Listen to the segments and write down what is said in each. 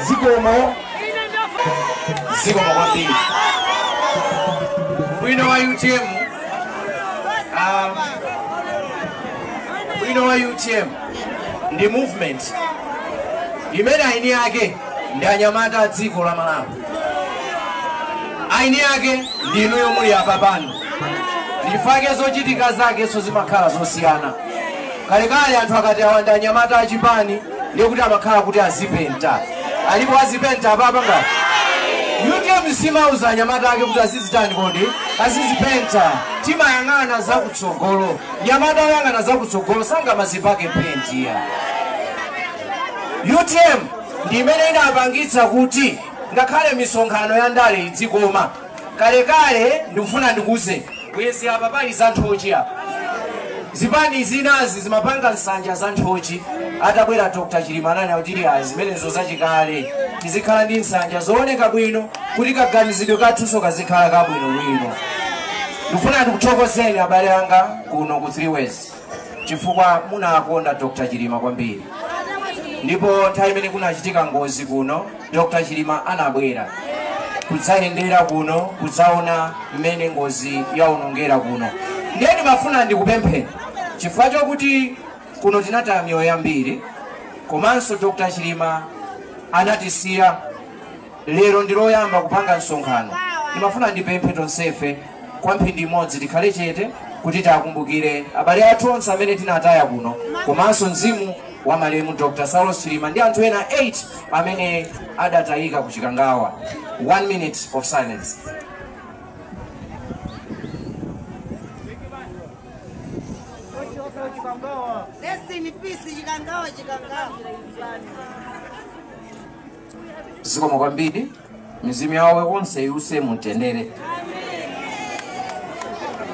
zikomo zikomo kwambiri winawo utm winawo utm ndi movement imene eni ake ndi anyamata a dziko la malawi eni ake ndi inuyo muli apapa nchifukwa chake zochitika zakenso zimakhala zosiyana kalekale anthu akati awa ndi anyamata achipani ndiye kuti amakhala kuti azipenta alipo azipenta apapa utm simauza anyamata ake kuti azizitani kodi azizipenta timayang'ana zakutsogolo mnyamata woyang'ana zakutsogolo sangamazipake penti utm ndi imene inapangitsa kuti ngakhale misonkhano ya ndale idzikoma Kalekale ndikufuna ndikuuzeni. Bwezi apa pali za nthochi apa. Zipani zinazi zimapanga nsanja za nthochi. Atabwera Dr. Chilima ananena kuti iyayi zimenezo zachikale. Tizikhala ndi nsanja zooneka bwino kuti kaganizidwe kathunso kazikhala kabwinobwino. Ndikufuna ndikuthokozeni abale anga kuno ku Three Ways. chifukwa munakonda Dr. Chilima kwambiri ndipo nthawi imene kunachitika ngozi kuno Dr. Chilima anabwera kudzayendera kuno kudzaona mmene ngozi yaonongera kuno ndiye ndimafuna ndikupempheni chifukwa chokuti kuno tinataya miyoyo yambiri komanso Dr. Chilima anatisiya lero ndi loyamba kupanga msonkhano ndimafuna ndipemphe tonsefe kwa mphindi imodzi tikhale chete kuti tiwakumbukire abale athu onse amene tinataya kuno komanso mzimu wa malemu dr saulos chilima ndi anthu ena 8 amene adatayika ku chikangawa 1 minute of silence zikomo kwambiri mizimu yawo onse iwuse mumtendere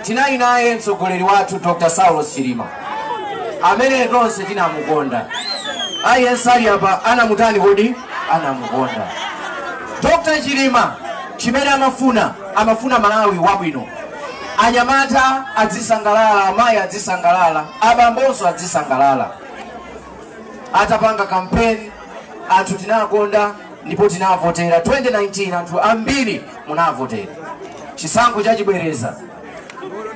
tinali naye mtsogoleri wathu dr saulos chilima amene tonse tinamukonda aliyense ali apa anamutani kodi anamukonda dr chilima chimene amafuna amafuna malawi wabwino anyamata adzisangalala amayi adzisangalala abambonso adzisangalala atapanga kampeni anthu tinakonda ndipo tinavotera 2019 anthu ambiri munavotera chisankho chachibwereza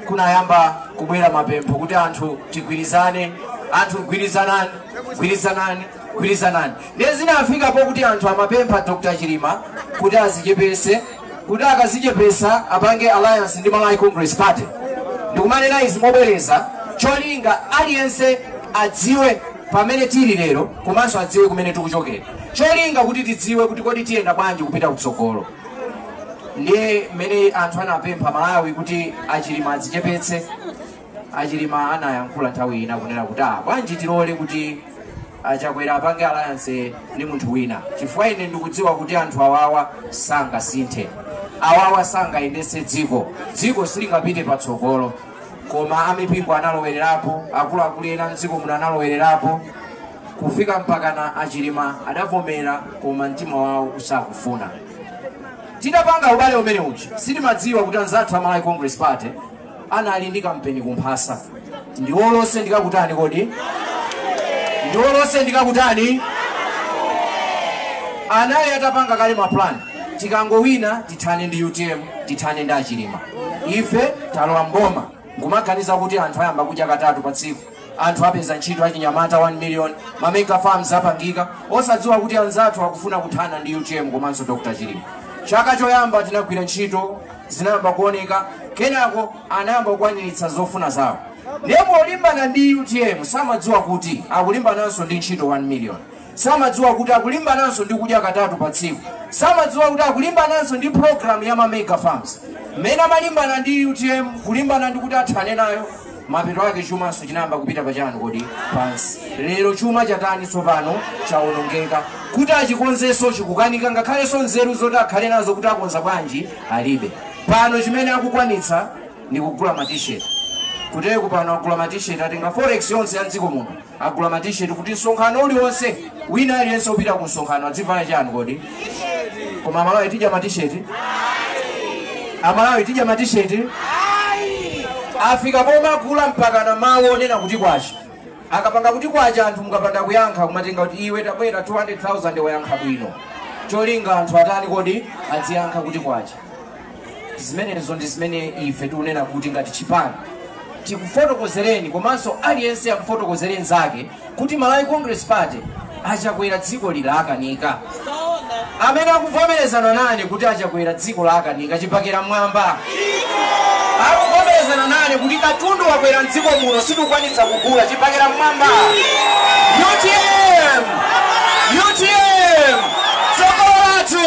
kunayamba kubwera mapempho kuti anthu tigwirizane anthu gwirizanani gwirizanani gwirizanani ndiye zinafika pokuti anthu amapempha dr chilima kuti adzichepetse kuti akadzichepetsa apange alliance ndi malawi congress party ndikumanena izi mobwereza cholinga aliyense adziwe pamene tili lero komanso adziwe kumene tikuchokera cholinga kuti tidziwe kuti kodi tiyenda bwanji kupita kutsogolo ndiye mmene anthu anapempha malawi kuti achilima adzichepetse achilima anayankhula nthawi ina kunena kuti ah bwanji tilole kuti a chakwera apange alliance ndi munthu wina chifukwa ine ndikudziwa kuti anthu awawa sangasinthe awawa sangayendetse dziko dziko silingapite patsogolo koma amipingo analowererapo akuluakulu ena mdziko muno analowererapo kufika mpakana achilima adavomera koma mtima wawo usakufuna tidapanga ubale umene uchi sitimadziwa kuti anzathu a malawi congress party anali ndi kampeni kumphasa ndi olo nsendikakutani kodi ndiwo lonse ndikakutani anali atapanga kale mapulani tikangowina tithane ndi utm tithane ndi achilima ife talowa mboma nkumaganiza kuti anthu ayamba kudya katatu pa tsiku anthu apeza ntchito achinyamata 1 million mamega farms apangika osadziwa kuti anzathu akufuna kuthana ndi utm komanso dr chilima chaka choyamba tinagwira ntchito zinayamba kuoneka kenako anayamba kukwaniritsa zofuna zawo ndipo olimbana ndi utm samadziwa kuti akulimbananso ndi ntchito 1 million samadziwa kuti akulimbananso ndi kudya katatu pa tsiku samadziwa kuti akulimbananso ndi program ya ma mega farms mmene amalimbana ndi utm kulimbana kuti athane nayo mapeto ake chumanso chinayamba kupita pachani kodi pansi lero chuma chatani tsopano chawonongeka kuti achikonzenso chikukanika ngakhalenso nzeru zoti akhale nazo kuti akonza bwanji alibe pano chimene akukwanitsa ndi kugula matisheti kuteku pano agula matisheti atenga forex yonse ya dziko muno agula matisheti kuti msonkhano uliwonse wina aliyense opita ku msonkhano adzivala chani kodi koma amalawi tidya matisheti amalawi tidya matisheti afika pomagula mpaka na mawu onena kuti kwacha akapanga kuti kwacha anthu mukapanda kuyankha kumati nga kuti iwe tabwera 200000 wayankha bwino cholinga anthu atani kodi adziyankha kuti kwacha zimenezo ndi zimene ife tikunena kuti ngati chipani tikufotokozereni komanso aliyense akufotokozereni zake kuti malawi congress party achakwera dziko ili lawakanika amene akuvomerezana nane kuti achakwera dziko lawakanika chibakera mwamba akuvomerezana nane kuti katundu wakwera mdziko muno sitikukwanitsa kugula chibakera mwamba utm utm tsogolo lathu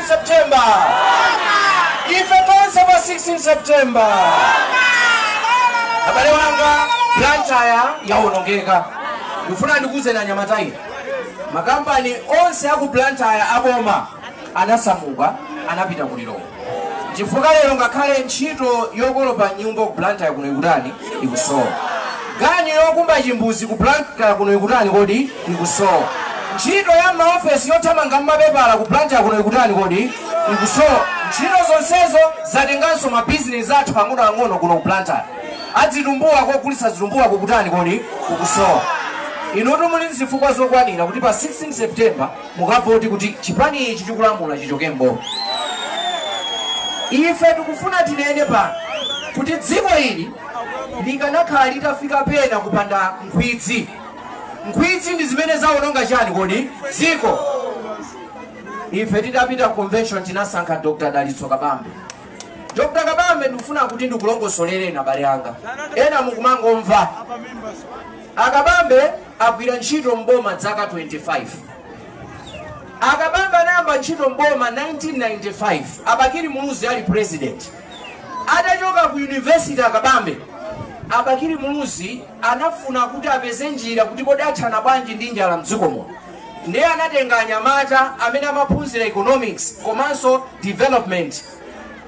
16 September. Ife tonse pa 16 September. Abale wanga Blantyre yawonongeka. Ndifuna ndikuuzeni anyamata inu. Makampani onse aku Blantyre aboma anasamuka anapita ku Lilongwe. Chifukwa lero ngakhale ntchito yokolopa mnyumba ku Blantyre kuno ikutani ikusowa. Ganyu yokumba chimbuzi ku Blantyre kuno ikutani kodi ikusowa ntchito ya maofesi yothamanga ndi mapepala ku Blantyre kuno ikutani kodi ikusowa ntchito zonsezo zatenganso mabizinesi athu ang'onoang'ono kuno ku Blantyre azitumbuwa kogulitsa zitumbuwa kukutani kodi kukusowa inutu muli ndi zifukwa zokwanira kuti pa 16 september mukavote kuti chipani ichi chikulamula chichoke mboma ife tikufuna tinene pano kuti dziko ili likanakhala litafika pena kupanda nkhwidzi Nkhwidzi ndi zimene zawononga chani kodi? Dziko. Ife tidapita ku convention tinasankha Dr. Dalitso Kabambe. Dr. Kabambe ndikufuna kuti ndikulongosolereni abale anga. Ena mukumangomva. A Kabambe agwira ntchito mboma dzaka 25. A Kabambe anayamba ntchito mboma 1995. A Bakili Muluzi ali president. Atachoka ku University a Kabambe, a Bakili Muluzi anafuna kuti apeze njira kuti kodi athana bwanji ndi njala mdziko muno nde anatenga anyamata amene amaphunzira economics komanso development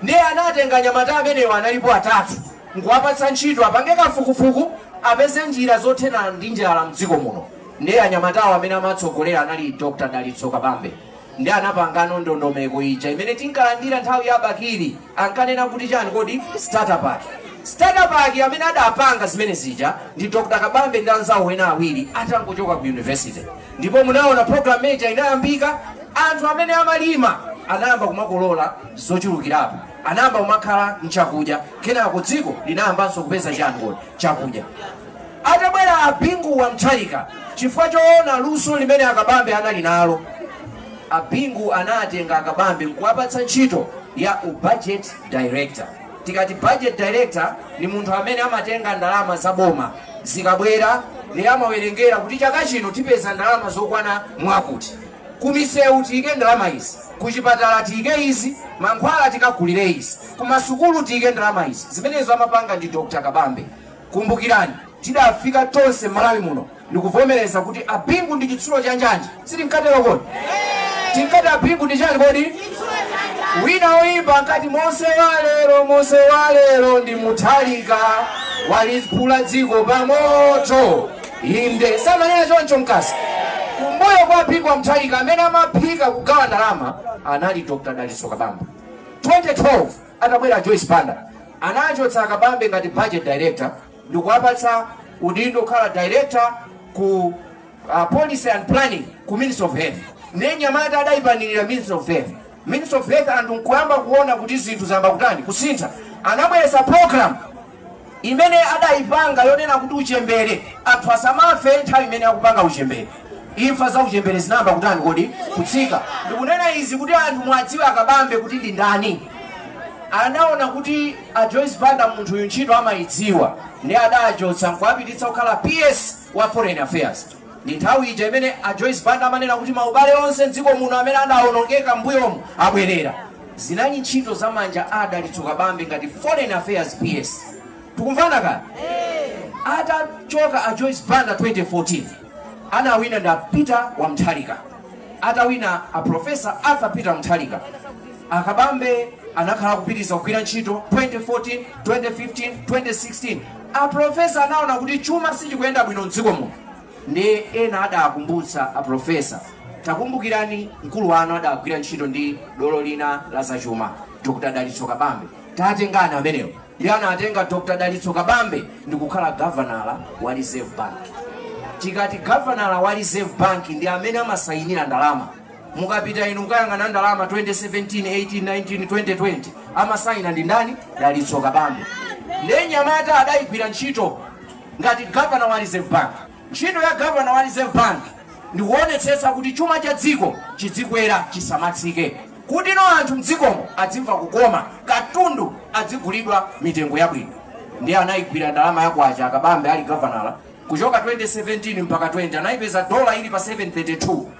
nde anatenga anyamata amenewa analipo atatu nkuwapatsa ntchito apange kafukufuku apeze njira zothana ndi njala mdziko muno nde anyamatawo amene amatsogolera anali Dr. Dalitso Kabambe nde anapanga no ndondomeko ija imene tinkalandira nthawi ya bakili ankanena kuti chani kodi starter pack starter pack amene adapanga zimene zija ndi dr kabambe ndi anzawo ena awiri atangochoka ku university ndipo munaona programme ija inayambika anthu amene amalima anayamba kumakolola zochulukirapo anayamba kumakhala nchakudya kenako dziko linayambanso kupeza chani kodi chakudya. Atabwera a Bingu wa Mutharika, chifukwa choona luso limene a Kabambe anali nalo, a Bingu anatenga a Kabambe nkuwapatsa ntchito ya u budget director. Tikati budget director ndi munthu amene amatenga ndalama za boma zikabwera, ndiye amawerengera kuti chaka chino tipeza ndalama zokwana mwakuti. Kumisewu tiike ndalama izi, kuchipatala tiike izi, mankhwala tikagulire izi, kumasukulu tiike ndalama izi. Zimenezo amapanga ndi Dr. Kabambe. Kumbukirani, tidafika tonse m'Malawi muno ndikuvomereza kuti a Bingu ndi chitsulo cha njanji, sitinkatero kodi? Tinkati a Bingu ndi chani kodi? Wina woyimba ankati Mose wa lero, Mose wa lero ndi Mutharika waliphula dziko pamoto. Inde, samanena choncho nkazi? Kumbuyo kwa a Bingu wa Mutharika amene amaphika kugawa ndalama anali Dr. Dalitso Kabambe. 2012 atabwera Joyce Banda anachotsa Kabambe ngati budget director ndikuwapatsa udindo kukhala director ku uh, policy and planning ku Ministry of Health. Ndiye nyamata adayipanirira Ministry of Health. Ministry of Health anthu nkuyamba kuona kuti zinthu zayamba kutani kusintha. Anabweretsa program imene adaipanga yonena kuti uchembere anthu asamafe nthawi imene akupanga uchembere imfa za uchembere zinayamba kutani kodi kutsika ndikunena izi kuti anthu muwadziwe a Kabambe kuti ndi ndani anaona kuti a joyce banda munthuyu ntchito amayidziwa nde adachotsa nkuwapititsa kukhala ps wa foreign affairs Ndi nthawi ija imene a Joyce Banda amanena kuti maubale onse m'dziko muno amene adaonongeka m'mbuyomu abwerere. Zinali ntchito za manja a Dalitso Kabambe ngati Foreign Affairs PS. Tikumvana kani? Atachoka a Joyce Banda 2014 anawina ndi a Peter wa Mutharika. Atawina a Professor Arthur Peter Mutharika. A Kabambe anakhala kupitiriza kugwira ntchito 2014, 2015, 2016 A Professor anaona kuti chuma sichikuyenda bwino mdziko muno ndiye ena adakumbutsa a Professor takumbukirani mkulu wanu adagwira ntchito ndi dolo lina la zachuma Dr Dalitso Kabambe tatengani amenewo ndiye anatenga Dr Dalitso Kabambe ndikukhala gavanala wa Reserve Bank tikati gavanala wa Reserve Bank ndi amene amasainira ndalama mukapita inu mukayang'ana ndalama 2017 18 19 2020 amasaina ndi ndani dalitso kabambe ndiye nyamata adayigwira ntchito ngati gavana wa reserve bank ntchito ya gavana wa reserve bank ndikuonetsetsa kuti chuma cha dziko chidzikwera chisamatsike kuti no anthu mdzikomo adzimva kukoma katundu adzigulidwa mitengo yabwino ndiye anayigwira ndalama ya kwacha a Kabambe ali gavanala kuchoka 2017 mpaka 20 anayipeza dola ili pa 732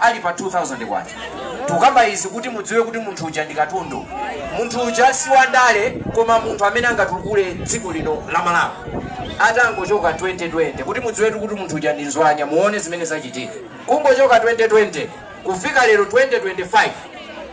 ali pa K2000. Tukamba izi kuti mudziwe kuti munthu uja ndi katundu. Munthu uja si wandale koma munthu amene angatukule dziko lino la Malawi. Atangochoka 2020 kuti mudziwetu kuti munthu uja ndi nzwanya muone zimene zachitika. Kungochoka 2020 kufika lero 2025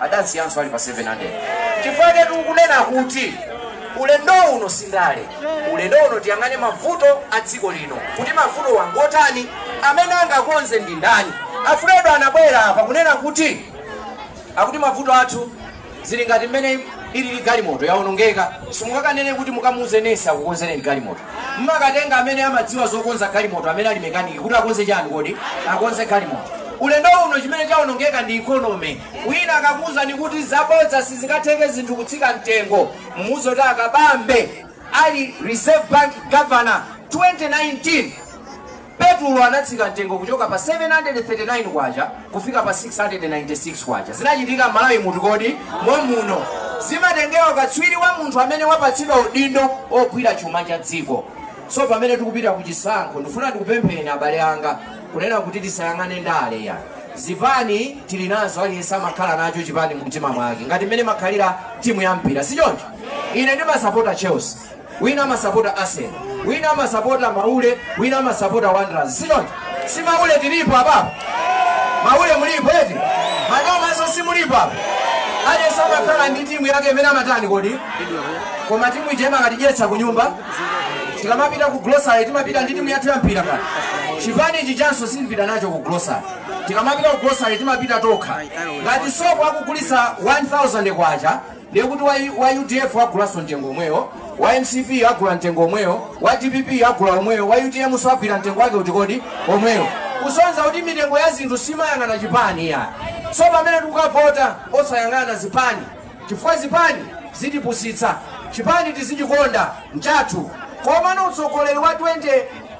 adaisiyanso ali pa 700 chifukwa chake tikunena kuti ulendo uno si ndale ulendo uno tiyang'ane mavuto a dziko lino kuti mavutowa ngotani amene angakonze ndi ndani a Fredo anabwera apa kunena kuti akuti mavuto athu zili ngati mmene ilili galimoto yaonongeka simungakanene kuti mukamuuze nesi akukonzereni galimoto mumakatenga amene amadziwa zokonza galimoto amene ali mekaniki kuti akonze chani kodi akonze galimoto ulendo uno chimene chawonongeka ndi ikonomi wina akakuwuzani kuti zabodza sizingatheke zinthu kutsika mtengo mumuuze kuti a Kabambe ali reserve bank governor 2019 Petrol anatsika mtengo kuchoka pa 739 kwacha kufika pa 696 kwacha. Zinachitika Malawi muti kodi? Momwemuno. Zimatengera katswiri wa munthu amene wapatsidwa udindo ogwira chuma cha dziko. So pamene tikupita ku chisankho ndifuna ndikupempheni abale anga kunena kuti tisayang'ane ndale ya zipani tili nazo aliyense amakhala nacho chipani mumtima mwake ngati mmene imakhalira timu ya mpira si choncho ine ndimasapota chelsea wina amasapota arsenal wina amasapota maule wina amasapota wanderers si choncho si maule tilipo apa maule mulipo eti manomaso simulipo apa aliyense amakhala ndi timu yake imene amatani kodi koma timu ija imakatidyetsa ku nyumba tikamapita ku grocery timapita ndi timu yathu ya mpira kale chipani ichi chanso sitipita nacho ku grocery tikamapita ku grocery timapita tokha ngati sopo akugulisa 1000 kwacha ndiye kuti wa, wa udf agulanso mtengo omwewo wa mcp agula mtengo omwewo wa dpp agula omwewo wa utm so agula mtengo wake uti kodi omwewo kusonza kuti mitengo ya zinthu simayang'ana chipani yayi so pamene tikukavota osayang'ana zipani chifukwa zipani zitipusitsa chipani tizichikonda nchathu komano utsogoleri wa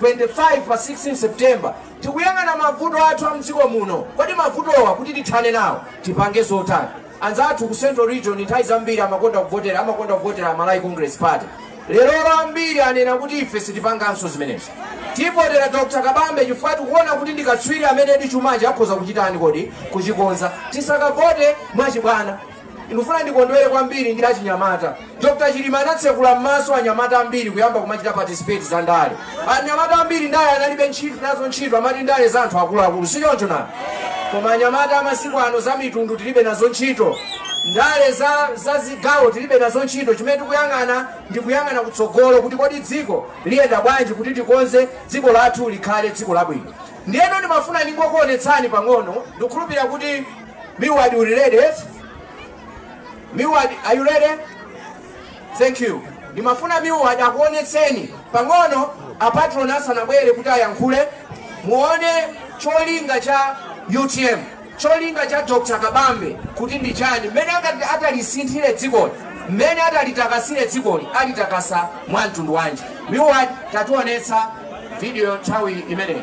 2025 pa 16 september tikuyang'ana mavuto athu a mdziko muno kodi mavutowa kuti tithane nawo tipange zotani Anzathu ku Central Region nthawi zambiri amakonda kuvotera amakonda kuvotera Malawi Congress Party. Lerolo ambiri anena kuti ife sitipanganso zimenezi. Tivotera Dr. Kabambe chifukwa tikuona kuti ndi katswiri amene ndi chumachi akhoza kuchitani kodi kuchikonza. Tisakavote mwachibwana. Ndikufuna ndikondwere kwambiri ndi achinyamata. Dr Chilima anatsekula mmaso anyamata ambiri kuyamba kumachita participate za ndale. Anyamata ambiri ndale analibe ntchito nazo ntchito amati ndale za anthu akuluakulu si choncho nanga. Koma anyamata amasiku ano za mitundu tilibe nazo ntchito. Ndale za, za zigawo tilibe nazo ntchito chimene tikuyang'ana ndi kuyang'ana kutsogolo kuti kodi dziko liyenda bwanji kuti tikonze dziko lathu likhale dziko labwino. Ndiyeno ndimafuna ndingokuonetsani pang'ono ndikukhulupirira kuti Milward uli ready Milward, are you ready? Thank you. Ndimafuna Milward akuonetseni pang'ono apatron asanabwere kuti ayankhule muone cholinga cha UTM cholinga cha Dr. Kabambe kuti ndi chani mmene atalisinthire dzikoli mmene atalitakasire dzikoli alitakasa mwa mtundu wanji Milward tationetsa video nthawi imeneyi